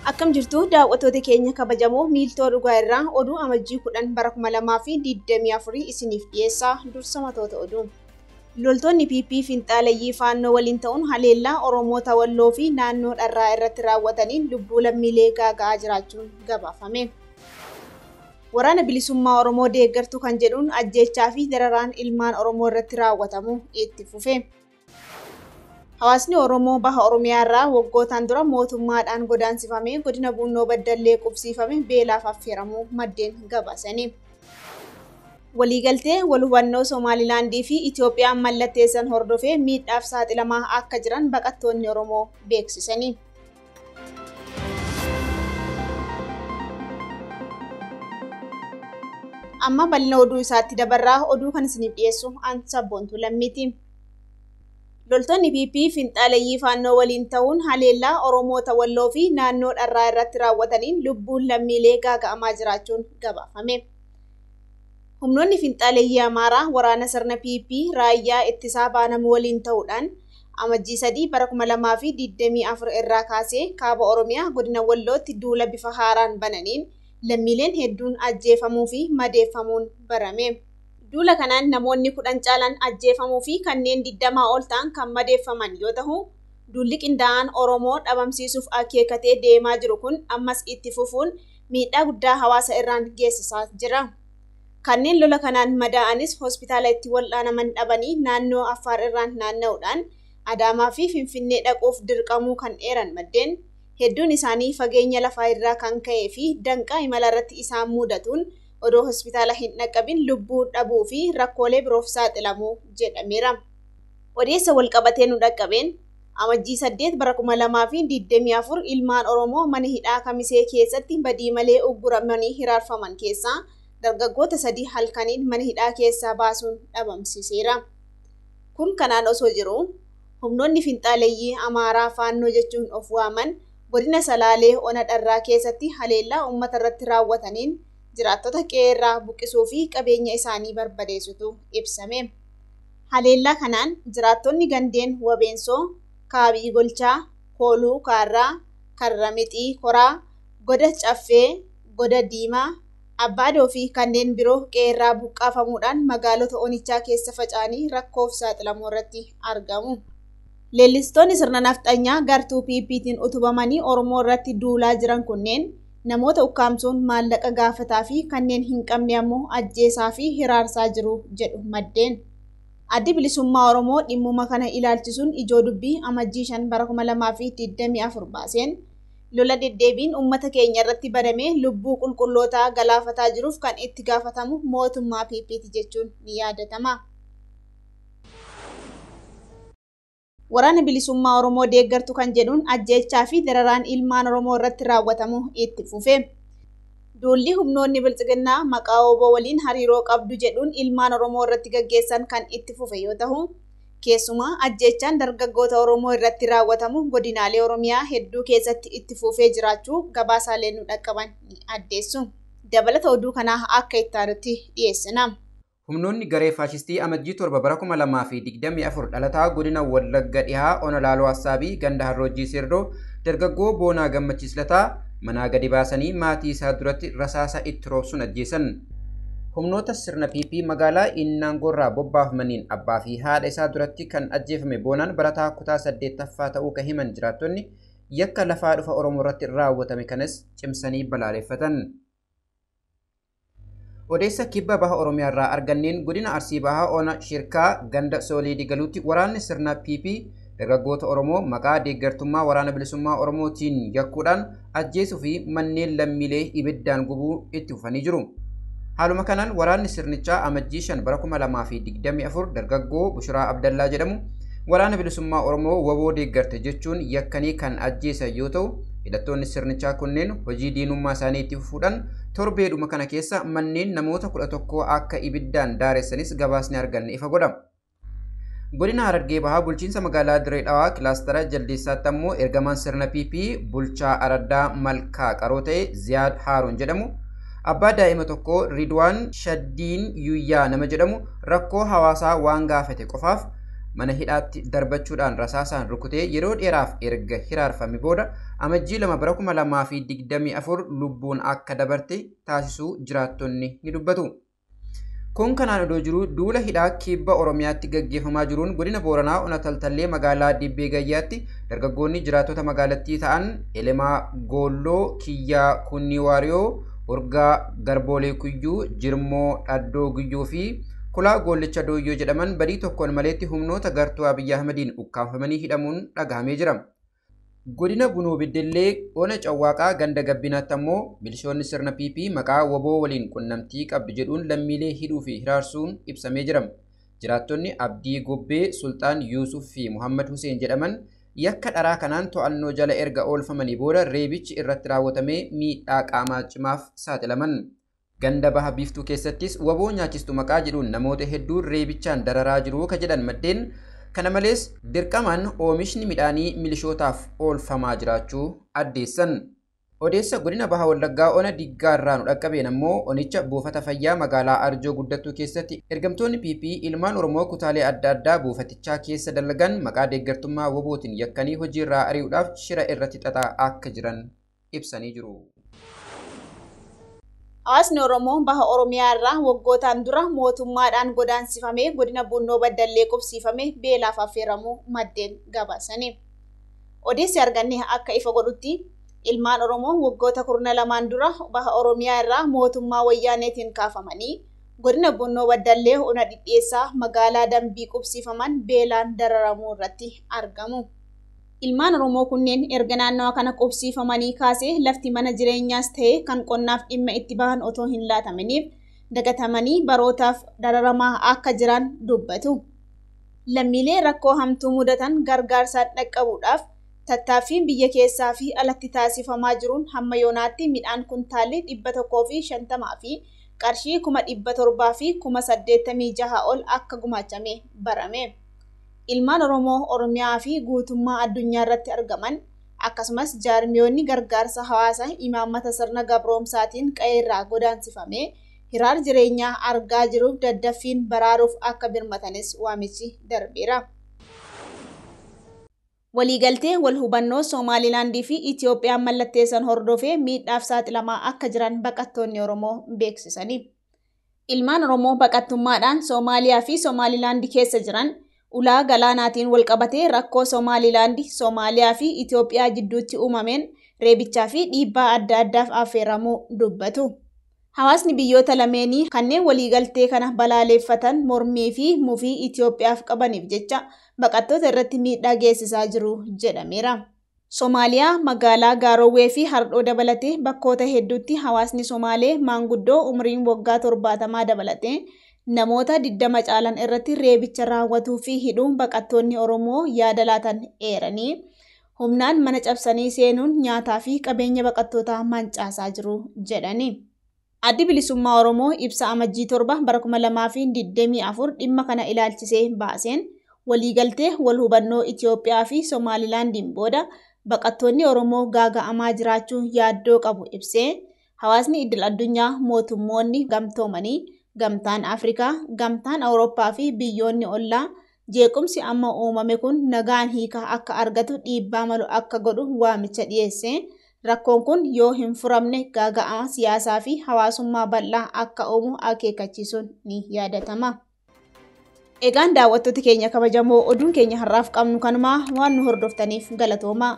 Akkam jirtu daawwattoota keenya kabajamoo miiltoo dhugaa irraa oduu amajjii 10 bara 2024 isiniif dhiyeessaa dursa matoota oduu. Loltoonni PP finxaaleyyii faannoo waliin ta'uun haleellaa Oromoota Walloo fi naannoo dharraa irratti raawwataniin lubbuu lammiilee gaaga'aa jiraachuun gabaafame. Waraana Bilisummaa Oromoo deeggartu kan jedhuun ajjeechaa fi dararaan ilmaan Oromoo irratti raawwatamu itti fufe. Hawaasni Oromoo Baha Oromiyaa irraa waggootaan dura mootummaadhaan godaansifamee godina Buunnoo Baddallee qubsiifame beelaaf affeeramuu maddeen gabaasani. Waliigaltee wal hubannoo Somaalilaandii fi Itoophiyaan mallatteessan hordofee miidhaaf saaxilamaa akka jiran baqattoonni Oromoo beeksisani. Amma bal'ina oduu isaatti dabarraa oduu kan isiniif dhiyeessu an sabboontuu lammiiti. Loltoonni PP finxaaleyyii faannoo waliin ta'uun haleellaa Oromoota Walloo fi naannoo dharraa irratti raawwataniin lubbuun lammiilee gaaga'amaa jiraachuun gabaafame. Humnoonni finxaaleyyii Amaaraa waraana sirna PP raayyaa ittisaa baanamu waliin ta'uudhaan Amajjii 3 bara 2024 irraa kaasee kaaba Oromiyaa godina Wallootti duula bifa haaraan bananiin lammiileen hedduun ajjeefamuu fi madeeffamuun barame. Duula kanaan namoonni 10 caalan ajjeefamuu fi kanneen 20 ol ta'an kan madeeffaman yoo tahu, duulli qindaa'aan Oromoo dhabamsiisuuf akeekatee deemaa jiru kun ammas itti fufuun miidhaa guddaa hawaasa irraan geessisaa jira. Kanneen lola kanaan madaa'anis hospitaala itti wal'aanaman dhabanii naannoo Affaar irraan naanna'uudhaan Adaamaa fi Finfinnee dhaquuf dirqamuu kan eeran maddeen, hedduun isaanii fageenya lafaa irraa kan ka'ee fi danqaa imala irratti isaan muudatuun odoo hospitaala hin dhaqqabin lubbuu dhabuu fi rakkoolee biroof saaxilamu jedhameera. Odeessa walqabatee nu dhaqqabeen Amajjii 8 bara 2024 ilmaan Oromoo mana hidhaa Kamisee keessatti badii malee ugguramanii hiraarfaman keessaa dargaggoota sadii halkaniin mana hidhaa keessaa baasuun dhabamsiiseera. Kun kanaan osoo jiruu humnoonni finxaaleyyii Amaaraa Faannoo jechuun of waaman godina Salaalee Ona Dharraa keessatti haleellaa uummata irratti raawwataniin jiraattota qe'eerraa buqqisuu fi qabeenya isaanii barbadeessutu ibsame. Haleellaa kanaan jiraattonni gandeen Wabeensoo, Kaabii Golchaa, Kooluu Kaarraa, Karra Mixii Koraa, Goda Caffee, Goda Diimaa, Abbaadoo fi kanneen biroo qe'eerraa buqqaafamuudhaan magaalota onichaa keessa faca'anii rakkoof saaxilamuurratti argamu. Leellistoonni sirna nafxanyaa gartuu PPtiin utubamanii Oromoo irratti duulaa jiran kunneen namoota ukkaamsuun maallaqa gaafataa fi kanneen hin qabne ammoo ajjeesaa fi hiraarsaa jiru jedhu maddeen. Addi Bilisummaa Oromoo dhimmuma kana ilaalchisuun ijoo dubbii Amajjii 5 bara 2024 baaseen, lola deddeebiin uummata keenya irratti baname lubbuu qulqullootaa galaafataa jiruuf kan itti gaafatamu mootummaa PP ti jechuun ni yaadatama. Waraana Bilisummaa Oromoo deeggartu kan jedhuun ajjeechaa fi dararaan ilmaan Oromoo irratti raawwatamu itti fufe. Duulli humnoonni Bilxiginnaa maqaa wbo waliin hariiroo qabdu jedhuun ilmaan Oromoo irratti gaggeessan kan itti fufe yoo tahu, keessumaa ajjeechaan dargaggoota Oromoo irratti raawwatamu godinaalee Oromiyaa hedduu keessatti itti fuufee jiraachuu gabaasaaleen nu dhaqqaban ni addeessu. Dabalata oduu kanaa akka itti aanutti dhiyeessina. Humnoonni garee faashistii Amajjii 7 bara 2024 dhalataa godina Wallagga dhihaa ona Laaloo Assaabii ganda Harroojjii Seerdoo dargaggoo Boonaa Gammachiis Lataa manaa gadi baasanii maatii isaa duratti rasaasa itti roobsuun ajjeesan. Humnoota sirna PP magaalaa Innaangoorraa bobbaafamaniin abbaa fi haadha isaa duratti kan ajjeefame Boonaan barataa kutaa 8ffaa ta'uu kan himan jiraattonni yakka lafaa dhufa Oromoorratti raawwatame kanas cimsanii balaaleffatan. Odeessa kibba baha Oromiyaarraa arganneen godina Arsii Bahaa Ona Shirkaa ganda Soolee Digaluutti waraanni sirna PP dargaggoota Oromoo maqaa deeggartummaa Waraana Bilisummaa Oromoo tiin yakkuudhaan ajjeesuu fi manneen lammiilee ibiddaan gubuu itti fufanii jiru. Haaluma kanaan waraanni sirnichaa Amajjii 5 bara 2024 dargaggoo Bushiraa Abdallaa jedhamu Waraana Bilisummaa Oromoo wbo deeggarte jechuun yakkanii kan ajjeesan yoo ta'u, hidhattoonni sirnichaa kunneen hojii diinummaa isaanii itti fufuudhaan torbeedhuma kana keessa manneen namoota 11 akka ibiddaan daaressanis gabaasni arganne ifa godha. Godina Harargee Bahaa bulchiinsa magaalaa Dirree Dhawaa kilaastara Jaldeessaatti ammoo ergamaan sirna PP bulchaa araddaa Malkaa qaroo ta'e Ziyaad Haaruun jedhamu abbaa daa'ima tokkoo Ridwaan Shaddiin Yuyyaa nama jedhamu rakkoo hawaasaa waan gaafate qofaaf mana hidhaatti darbachuudhaan rasaasaan rukutee yeroo dheeraaf erga hiraarfame booda amajjii lama bara 2024 lubbuun akka dabarte taasisuu jiraattonni ni dubbatu. Kun kanaan odoo jiruu duula hidhaa kibba Oromiyaatti gaggeeffamaa jiruun godina Booranaa ona Taltallee magaalaa Dibbee Gayyaatti dargaggoonni jiraattota magaalattii ta'an Elemaa Goolloo, Kiyyaa Kunnii Waariyoo, Urgaa Garboolee Kuyyuu, Jirmoo Dhaddoo Guyyuu fi Kulaa Goollicha Dooyyoo jedhaman badii tokkoon maleetti humnoota gartuu Abiy Ahmediin ukkaamfamanii hidhamuun dhagahamee jira. Godina Bunoo Beddellee ona Cawwaaqaa ganda Gabbinaatti ammoo milishoonni sirna PP maqaa wbo waliin qunnamtii qabdu jedhuun lammiilee hidhuu fi hiraarsuun ibsamee jira. Jiraattonni Abdii Gobbee, Sulxaan Yuusuf fi Muhammad Huseen jedhaman yakka dharaa kanaan to'annoo jala erga oolfamanii booda reebichi irratti raawwatamee miidhaa qaamaa cimaaf saaxilaman. Ganda Baha Biiftuu keessattis wbo nyaachistu maqaa jedhuun namoota hedduu reebichaan dararaa jiru ka jedhan maddeen, kana malees dirqamaan oomishni midhaanii milishootaaf oolfamaa jiraachuu addeessan. Odeessa Godina Baha Wallaggaa Ona Diggaa irraa nu dhaqqabeen ammoo onicha buufata fayyaa magaalaa Arjoo Guddattuu keessatti ergamtoonni PP ilmaan Oromoo kutaalee adda addaa buufatichaa keessa dalagan maqaa deeggartummaa wbo tiin yakkanii hojiirraa ari'uudhaaf shira irratti xaxaa akka jiran ibsanii jiru. Hawaasni Oromoo baha Oromiyaa irraa waggootaan dura mootummaadhaan godaansifamee godina Buunnoo Baddallee qubsiifame beelaaf affeeramuu maddeen gabaasani. Odeessi arganne akka ifa godhutti ilmaan Oromoo waggoota kurna lamaan dura baha Oromiyaa irraa mootummaa wayyaaneetiin kaafamanii godina Buunnoo Baddallee ona dhidhiyeessaa magaalaa Dambii qubsiifaman beelaan dararamuu irratti argamu. Ilmaan Oromoo kunneen erga naannawa kana qubsiifamanii kaasee lafti mana jireenyaas ta'ee kan qonnaaf dhimma itti bahan otoo hin laataminiif dagatamanii barootaaf dararamaa akka jiran dubbatu. Lammiilee rakkoo hamtuu mudatan gargaarsaan dhaqqabuudhaaf tattaaffiin biyya keessaa fi alatti taasifamaa jiruun hamma yoonaatti midhaan kuntaalli 150 fi qarshii kuma 700 fi kuma 86 ol akka gumaachame barame. ilmaan Oromoo Oromiyaa fi guutummaa addunyaa irratti argaman, akkasumas jaarmiyoonni gargaarsa hawaasa imaammata sirna gabroomsaatiin qa'ee irraa godaansifame hiraar jireenyaa argaa jiruuf daddaffiin baraaruuf akka birmatanis waamichi darbeera. Waliigaltee wal hubannoo Somaalilaandii fi Itiyoophiyaan mallatteessan hordofee miidhaaf saaxilamaa akka jiran baqattoonni Oromoo beeksisanii. Ilmaan Oromoo baqattummaadhaan Soomaaliyaa fi Somaalilaandi keessa jiran ulaa galaanaatiin walqabatee rakkoo Somaalilaandi, Soomaaliyaa fi Itoophiyaa jidduutti uumameen reebichaa fi dhiibbaa adda addaaf affeeramuu dubbatu. Hawaasni biyyoota lameenii kanneen waliigaltee kana balaaleeffatan mormii fi mufii Itoophiyaaf qabaniif jecha baqattoota irratti miidhaa geessisaa jiru jedhameera. Somaaliyaa, magaalaa Gaarowwee fi Hardhoo dabalatee bakkoota hedduutti hawaasni Somaalee maanguddoo umriin waggaa 70 dabalatee namoota 20 caalan irratti reebicha raawwatuu fi hidhuu baqattoonni Oromoo yaada laatan eeranii, humnaan mana cabsanii seenuun nyaataa fi qabeenya baqattootaa mancaasaa jiru jedhani. Addi Bilisummaa Oromoo ibsa Amajjii 7 bara 2024 dhimma kana ilaalchisee baaseen, waliigaltee wal hubannoo Itiyoophiyaa fi Somaalilaandiin booda baqattoonni Oromoo gaaga'amaa jiraachuu yaaddoo qabu ibsee, hawaasni iddil addunyaa, mootummoonni gamtoomanii, Gamtaan Afrikaa, Gamtaan Awurooppaa fi biyyoonni ollaa jeequmsi amma uumame kun nagaan hiika akka argatu dhiibbaa malu akka godhu waamicha dhiyeesse. Rakkoon kun yoo hin furamne gaaga'ama siyaasaa fi hawaasummaa bal'aa akka uumu akeekkachiisuun ni yaadatama. Egaan daawwattoota keenya kabajamoo oduun keenya har'aaf qabnu kanumaa waan nu hordoftaniif galatoomaa.